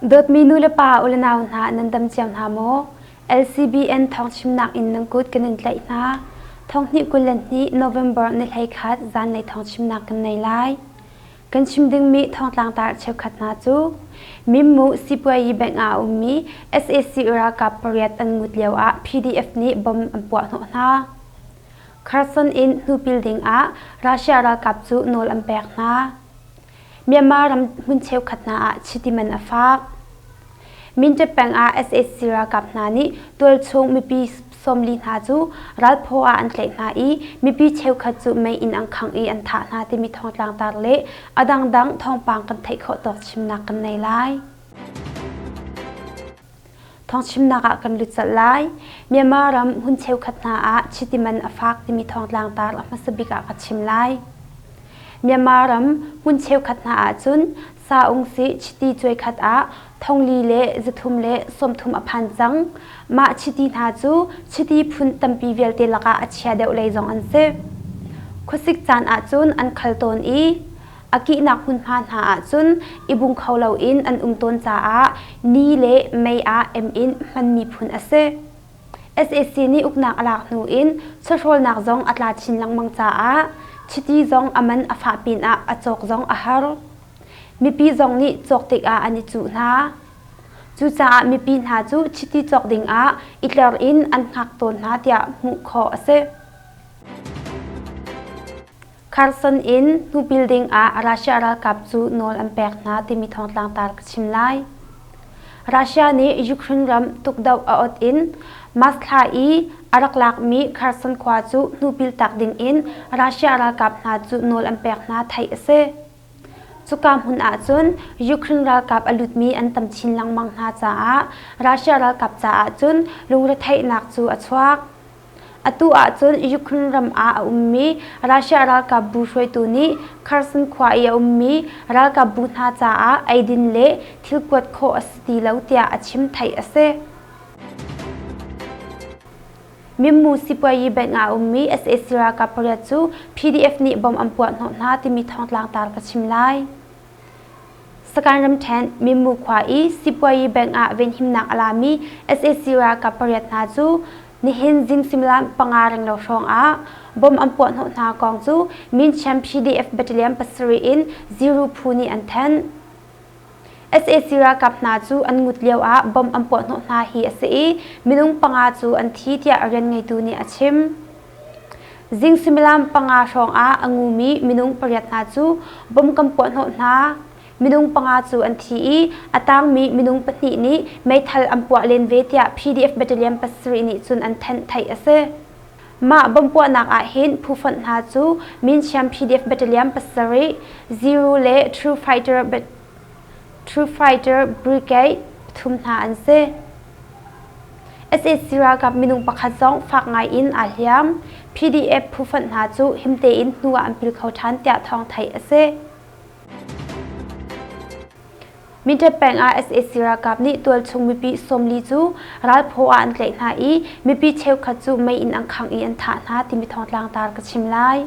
Dawtmi nulepa ulenau hna nan dam cio hna maw? LCBN thawngchimnak in nan kut kan in tlaih hna. Thonghnih kul le hnih November ni hlei khat zanlei thawngchimnak kan nei lai. Kan chim dingmi thongtlangtar cheukhat hna cu Mimmu Sipuayi Bank ah a ummi sac ralkap pariat an mut lioah PDF nih bom an puahhnawh hna. Kherson in hnupil dingah Russia ralkap cu nawl an pek hna. Myanmar ram hmun cheukhat hna ah chiti man a faak. Mindat peng ah sac ralkap hna nih tualchung mipi sawmli hna cu ralphaw ah an tlaih hna i mipi cheukhat cu mei inn ang khangh i an thah hna timi thawngtlang tar le a dangdang thawngpang kan theih khawh tawk chimnak kan nei lai. Thawngchimnak ah kan lut chalh lai. Myanmar ram hun cheukhat hna ah chitiman a fak timi thawngtlang tar a hmasa bik ah ka chim lai. Myanmar ram hun cheukhat hna ahcun Sa Ung Si Chiti cuai khat ah thongli le zathum le sawmthum a phan cang. Mah chiti hna cu chiti phun tampi vialte lakah a chia deuh lei zong an si. Khuasik caan ahcun an khal tawn i a kihnak hmunhma hna ahcun i bung kho loin an um tawn caah ni le mei ah em in hmanmi phun a si. SAC nih uknak a lak hnu in chawhrawlnak zong a tla chin lengmang caah chiti zong a man a fah pinah a cawk zong a har. Mipi zong nih cawk tikah an i cuh hna. Cucaah mipi hna cu chiti cawk dingah i tler in an hngak tawn hna tiah hmuh khawh a si. Kherson in hnu building ah Russia ralkap cu nawl an pek hna timi thawngtlang tar ka chim lai. Russia nih Ukraine ram tukdoh a ot in Masthla i a rak lakmi Kherson khua cu hnu pil tak dingin Russia ralkap hna cu nawl an pek hna theih a si. Cuka hmun ahcun Ukraine ralkap a lutmi an tam chin lengmang hna caah Russia ralkap caah cun lungretheihnak cu a chuak. Atu ahcun Ukraine ram ah a ummi Russia ralkap bu hruaitu nih Kherson khua i a ummi ralkap bu hna caah eidin le thil kuat khawh a si ti lo tiah a chim theih a si. Mimmu sipuayi bank ah a ummi sac ralkap pariat cu PDF nih bom an puah hnawh hna timi thongtlang tar ka chim lai. Sakan ramṭhen Mimmu khua i sipuayi bank ah venhimnak a lami sac ralkap pariat hna cu nihin zim suimilam panga renglo hrawngah bom an puah hnawh hna kong cu Minchiam PDF battalion pasarih in Ziru phu nih an thanh. sac ralkap hna cu an mut lioah bomb an puahhnawh hna hi a si i minung panga cu an thi tiah a rian ngeitu nih a chim. Zing suimilam panga hrawngah a ngumi minung pariat hna cu bomb kan puahhnawh hna. Minung panga cu an thi i a tangmi minung pahnih nih meithal an puah len ve tiah PDF Battalion pasarih nih cun an thanh theih a si. Mah bawmhpuahnak ah hin phu fonh hna cu Minsiam PDF Battalion pasarih, Zero le True Fighter, True Fighter Brigade pathum hna an si. SAC ralkap minung pakhat zong fak ngaiin aa hliam. PDF phufonh hna cu himte in hnu ah an pil kho ṭhan tiah thawng theih a si. Minṭhep peng ah sac ralkap nih tualchung mipi sawmli cu ralphaw ah an tlaih hna i mipi cheukhat cu mei in an khangh i an thah hna timi thawngtlang tar ka chim lai.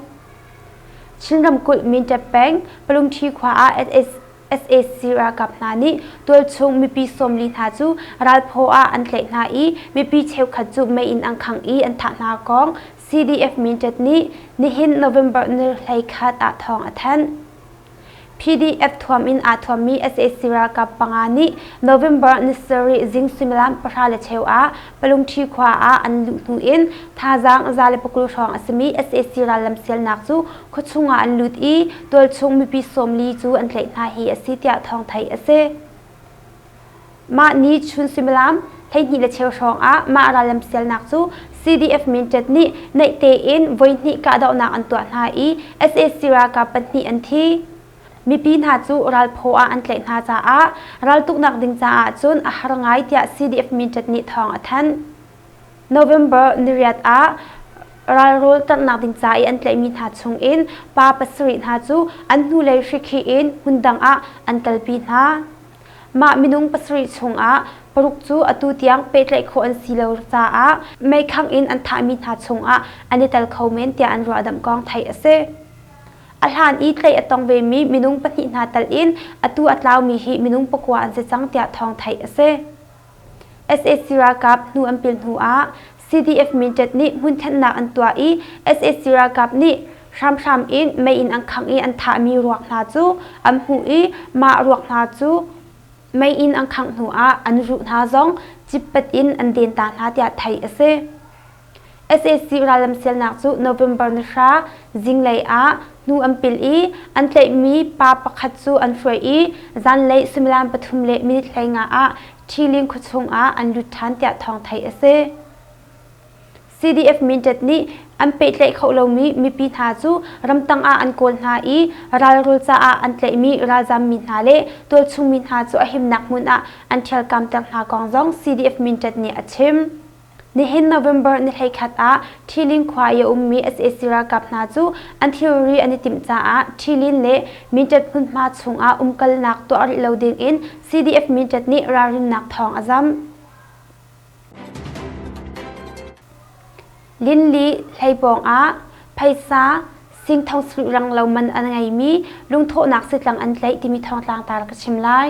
Chin ramkulh Minṭhep peng Palungṭhi khua ah sac ralkap hna nih tualchung mipi sawmli hna cu ralphaw ah an tlaih hna i mipi cheukhat cu mei in an khangh i an thah hna kong CDF Minṭhep nih nihin November ni hlei khat ah thawng a thanh. PDF thuam in aa thuammi sac ralkap panga nih November ni sarih zing suimilam pahra le cheu ah Palungṭhi khua ah an luh hnu in thazaang za le pakul hrawng a simi sac rallam sialnak cu khuachung ah an lut i tualchung mipi sawmli cu an tlaih hna hi a si tiah thawng theih a si. Mah ni chun suimilam hleihnih le cheu hrawngah mah ral lamsialnak cu CDF Mintet nih naih tein voihnih kahdohnak an tuah hna i sac ralkap pahnih an thi. Mipi hna cu ralphaw ah an tlaih hna caah raltuknak ding caah cun a har ngai tiah CDF Mintet nih thawng a thanh. November niriat ah ralrawl tarnak ding ca i an tlaihmi hna chungin pa pasarih hna cu an hnulei hrikhi in hmundang ah an kalpi hna. Mah minung pasarih chungah paruk cu atu tiang pehtlaih khawh an si lo caah meikhang in an thahmi hna chungah an i tel kho men tiah an ruahdamh kong theih a si. A hlan i tlaih a tong vemi minung pahnih hna tal in atu a tlaumi hi minung pakua an si cang tiah thawng theih a si. sac ralkap hnu an pil hnu ah cdf mindat nih hmun thennak an tuah i sac ralkap nih hramhram in mei in an khangh i an thahmi ruak hna cu an hmuh i mah ruak hna cu mei in an khangh hnu ah an ruh hna zong cippat in an den ta hna tiah theih a si. sac rallam sialnak cu november ni hra zinglei ah hnu an pil i an tlaihmi pa pakhat cu an hruai i zanlei suimilam pathum le minit hlei nga ah ṭhiling khuachung ah an lut ṭhan tiah thawng theih a si. CDF Mindat nih an pehtlaih kho lomi mipi hna cu ramtang ah an kawl hna i ralrul caah an tlaihmi ralzam mi hna le tualchung mi hna cu a himnak hmun ah an ṭhialkam ter hna kong zong CDF Mindat nih a chim. Nihin November ni hleikhat ah Ṭhilin khua i a ummi sac ralkap hna cu an thilri an i timh caah Ṭhilin le Minṭet hmunhma chungah umkalnak tuah rih lo dingin CDF Minṭet nih ralrinnak thawng a zam. Linli hlei pawng ah phaisa singthong sarih rang lo man an ngeimi lungthawhnak sitlang an tlaih timi thawng tlangtar ka chim lai.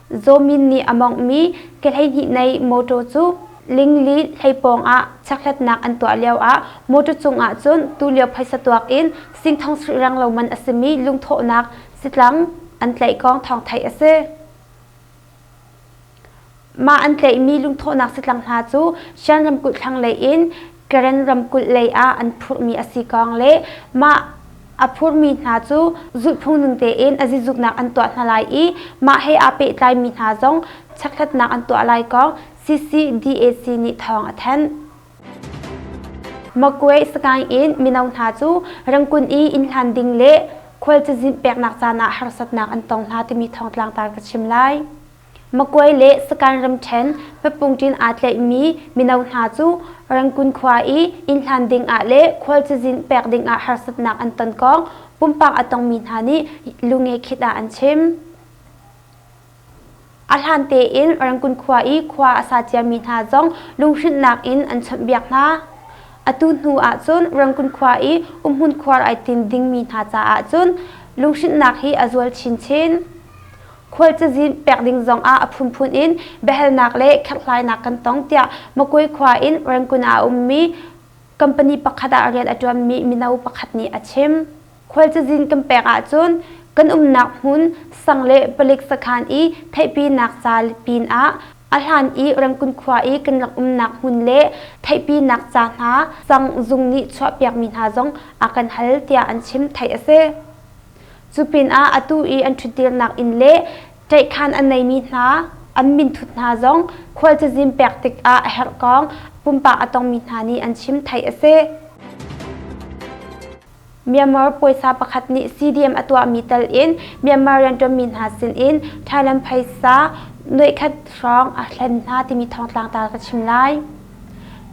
Zawmin nih a monghmi ke hleihnih nei motor cu Lingli hlei pawng ah chekhlatnak an tuah lioah motor cungah cun tulio phaisa tuak in singthong srih reng lo man a simi lungthawhnak sitlang an tlaih kong thawng theih a si. Mah an tlaihmi lungthawhnak sitlang hna cu Shan ramkulh thlanglei in Karen ramkulh lei ah an phurhmi a si kawng le mah a phurmi hna cu zulhphung ning tein a zizuknak an tuah hna lai i mah he aa pehtlaimi hna zong checkhlatnak an tuah lai kong CCDAC nih thawng a thanh. Makwe Sagaing in mino hna cu Rangkun i innhlan ding le khual cazin peknak caan ah harsatnak an tong hna timi thawng tlangtar ka chim lai. Makuai le Sakhan ramṭhen papungṭin aa tlaihmi mino hna cu Rangoon khua i inn hlan dingah le khual cazin pek dingah harsatnak an ton kong pumpak a tongmi hna nih Lungekhin ah an chim. A hlan tein Rangoon khua i khua a sa ciami hna zong lunghrinhnak in an chawnhbiak hna. Atu hnu ahcun Rangoon khua i umhmun khuar ai tin dingmi hna caah cun lunghrinhnak hi a zual chinchin. Khual cazin pek ding zongah a phunphun in biahalnak le kherhlainak kan tong tiah Makwe khua in Rangoon ah a ummi company pakhat ah rian a ṭuanmi mino pakhat nih a chim. Khual cazin kan pek ahcun kan umnak hmun sang le palik sakhan i theihpinak ca pin ah a hlan i Rangoon khua i kan rak umnak hmun le theihpinak ca hna sang zung nih chuahpiakmi hna zong a kan hal tiah an chim theih a si. Cu pinah atu i an ṭhutdirnak inn le ṭaihkhan an neimi hna, an minthut hna zong khual cazin pek tikah a herhkong pumpak a tongmi hna nih an chim theih a si. Myanmar puaisa pakhat nih CDM a tuahmi tal in Myanmar rianṭuanmi hna sinin Thailand phaisa nuihkhat hrawng a hlen hna timi thawngtlangtar ka chim lai.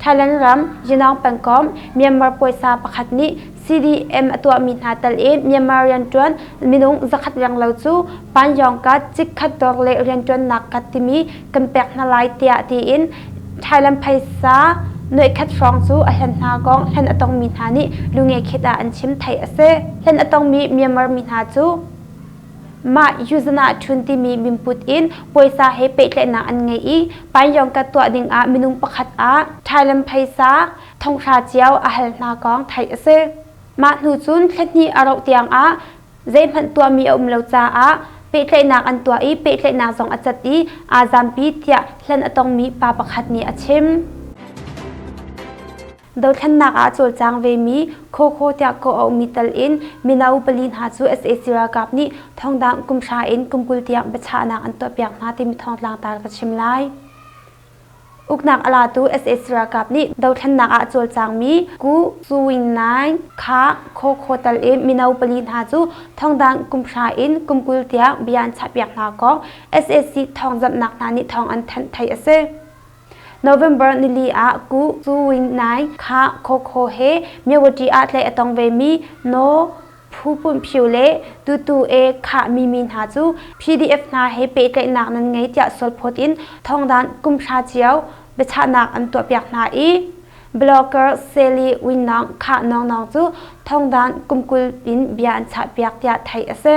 Thailand ram Yunnan pangkom Myanmar puaisa pakhat nih CDM a tuahmi hna tal i Myanmar rianṭuan minung zakhat renglo cu Panyongkat chikkhat dawr le rianṭuannak kat timi kan pek hna lai tiah tiin Thailand phaisa nuaikhat hrawng cu a hlen hna kong hlen a tongmi hna nih lungekhet ah an chim. Theih a si. Hlen a tongmi Myanmar mi hna cu Mah Yuzanah ṭhun timi mimput in puaisa he pehtlaihnak an ngei i Paiyawngka tuah dingah minung pakhat ah ṭhailam phaisa thonghra cio a hal hna kong theih a si. Mah hnu cun thlahnih a rauh tiangah zeihmanh tuahmi a um lo caah pehtlaihnak an tuah i pehtlaihnak zong a cat i aa zampi tiah hlan a tongmi pa pakhat nih a chim. Dothlennak ah a cawlcang vemi Khawkhaw tiah kawh a ummi tal in mino pali hna cu sac ralkap nih thongdang kum hra in kum kul tiang biachahnak an tuahpiak hna timi thawngtlang tar ka chim lai. Uknak a latu sac ralkap nih dothlennak ah cawlcangmi Ku Suing Nai Kha Khawkhaw tal i mino pali hna cu thongdang kum hra in kum kul tiang bia an chahpiak hna kong sac thawngzamhnak hna nih thawng an thanh theih a si. November nili ah Ku Win Nai kha Khokho he Mewati ah tlei a tong vemi No Phu Pun Phyu le Tutu E Khah Mimi hna cu PDF hna he pehtlaihnak nan ngei tiah sualphawt in thawngdanh kumhra cio biachahnak an tuahpiak hna i blogger Sally Winnong Khah Nongnong cu thawngdanh kumkul in bia an chahpiak tiah theih a si.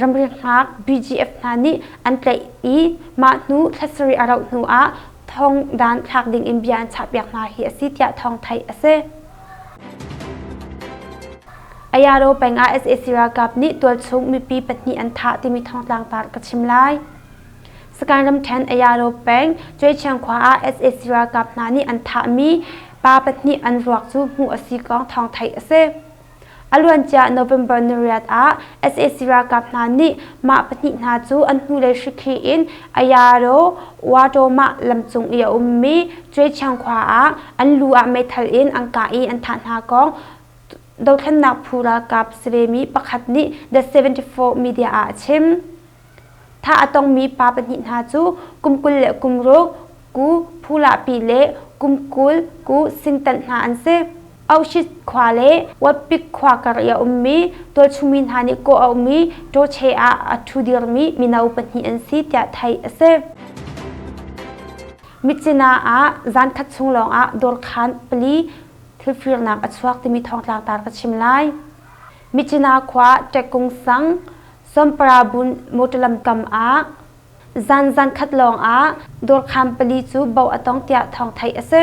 ramriak hngak BGF hna nih an tlaih i mah hnu thla sarih a rauh hnu ah thong dan thlak ding in bia an chahpiak hna hi a si tiah thawng theih a si. Ayaro peng ah sac ralkap nih tualchung mipi pahnih an thah timi thawng tlangtar ka chim lai. Sakan ramṭhen Ayaro peng Cuaichiang khua ah sac ralkap hna nih an thahmi pa pahnih an ruak cu hmuh a si kong thawng theih a si. A luancia November ni riat ah sac ralkap hna nih mah pahnih hna cu an hnulei hrikhih in Ayaro Watoma lam cung i a ummi Cuaithiang khua ah an lu ah meithal in an kah i an thah hna kong dothlennak phu ralkap si vemi pakhat nih The 74 media ah a chim. Tha a tongmi pa pahnih hna cu kum kul le kum ruk ku phulahpi le kum kul ku singtanh hna an si. Auschwitz khua le Wapik khua kar i a ummi tualchungmi hna nih kawh a ummi ṭawṭhe ah a ṭhu dirmi mino pahnih an si tiah theih a si. Mitsina ah zan khat chung lawngah dawrkhaan pali thilfirnak a chuak timi thawngtlak tar ka chim lai. Michina khua Ṭekkung sang Somparabun motor lamkam ah zan zankhat lawngah dawrkham pali cu boh a tong tiah thawng theih a si.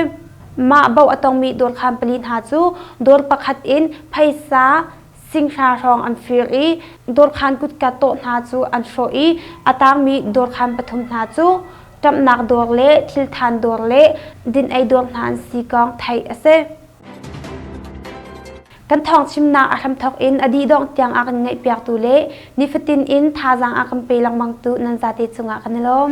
Mah boh a tongmi dawrkham pali hna cu dawr pakhat in phaisa singhra hrawng an fir i dawrkhan kutka tawh hna cu an hrawh i a tangmi dawrkham pathum hna cu ṭamhnak dawr le thilthan dawr le din-ei dawr hna an si kong theih a si. Kan thawngchimnak a hramthawk in a didongh tiang a kan ngaihpiaktu le nifatin in thazaang a kan pe lengmangtu nan zate cungah kan i lawm.